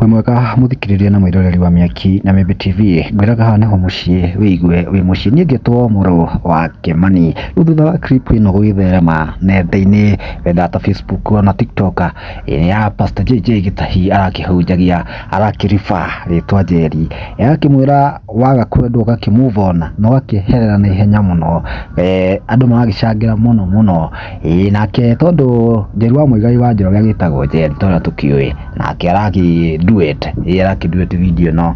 Wĩ mwega mũthikĩrĩria na mwĩroreri wa Mĩaki na Mĩmbi TV, ngwĩraga haha nĩho mũciĩ wĩigue wĩ mũciĩ. Niĩ ngĩtwo mũrũ wa Kĩmani. Rĩu thutha wa clip ĩno gũgĩtherema nenda-inĩ whether ta Facebook ona TikTok ĩrĩa ya Pastor JJ Gĩtahi arakĩhunjagia arakĩriba rĩtwa Njeri, agakĩmwĩra waga kwendwo ũgakĩ move on na ũgakĩeherera na ihenya mũno. Eh, andũ maragĩcangĩra mũno mũno. Ĩĩ nake tondũ Njeru wa Muigai wa Njoroge agĩtagwo Jen ta ũrĩa tũkĩũĩ nake araki duet ĩĩ araki duet video ĩno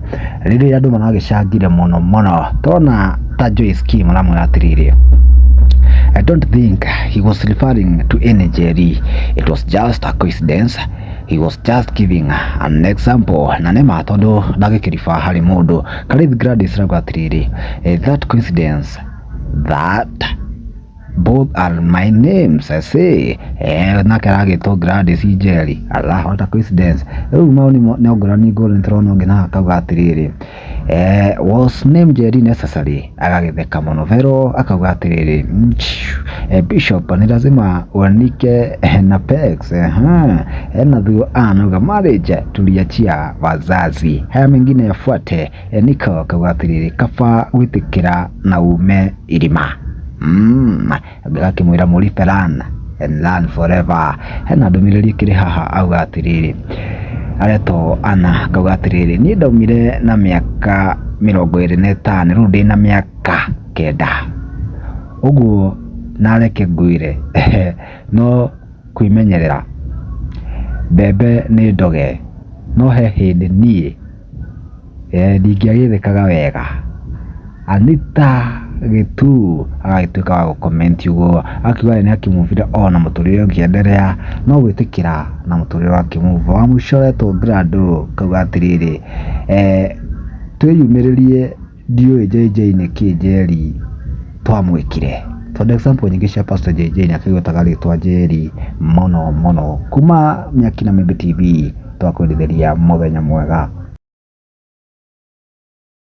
rĩrĩa andũ maragĩcangire mũno mũno tona ta Joyce Kim aramwĩra atĩrĩrĩ I don't think he was referring to any Jerry. It was just a coincidence. He was just giving an example. Na nĩ ma tondũ ndagĩkĩriba harĩ mũndũ. Karĩthi Gladys arauga atĩrĩrĩ, "Eh, that coincidence, that Both are my names, I say. Eh, nake aragĩtwo Gladys Njeri. Allah, what a coincidence. Rĩu mao nĩ mo- nĩ ngũrani ngũrani tũrona ũngĩ na akauga atĩrĩrĩ. Eh, was name Njeri necessary? Agagĩtheka mũno. Vero akauga atĩrĩrĩ. "Mchiu, eh, Bishop, nĩ lazima uanike eh, na pegs. Eh, eh, na thuo anauga marriage tuliachia wazazi. Haya mengine yafuate. Niko akauga atĩrĩrĩ kaba gwĩtĩkĩra na ume irima Mm, gakĩmwĩra mũri Ferran and learn forever hena ndũmĩrĩri ĩkĩrĩ haha auga atĩrĩrĩ aretwo ana akauga atĩrĩrĩ niĩ ndaumire na mĩaka mĩrongo ĩrĩ na ĩtano rĩu ndĩ na mĩaka kenda ũguo nareke ngwĩre no kwĩmenyerera mbembe nĩ ndoge no he hĩndĩ niĩ Eeh ndingĩagĩthĩkaga wega. Anita Gĩtuu agagĩtuĩka wa gũ comment ũguo akiuga we nĩ akĩ move ire on na mũtũrĩre ũngĩ endelea no gwĩtĩkĩra na mũtũrĩre wa kĩ move on. Wa mũico etwo Grado akauga atĩrĩrĩ eeh twĩyumĩrĩrie. Ndiũĩ JJ nĩkĩĩ Njeri twamwĩkire tondũ example nyingĩ cia Pastor JJ nĩ akĩgwetaga rĩtwa Njeri mũno mũno kuma Mĩaki na Mĩmbi TV twakwendithĩria mũthenya mwega.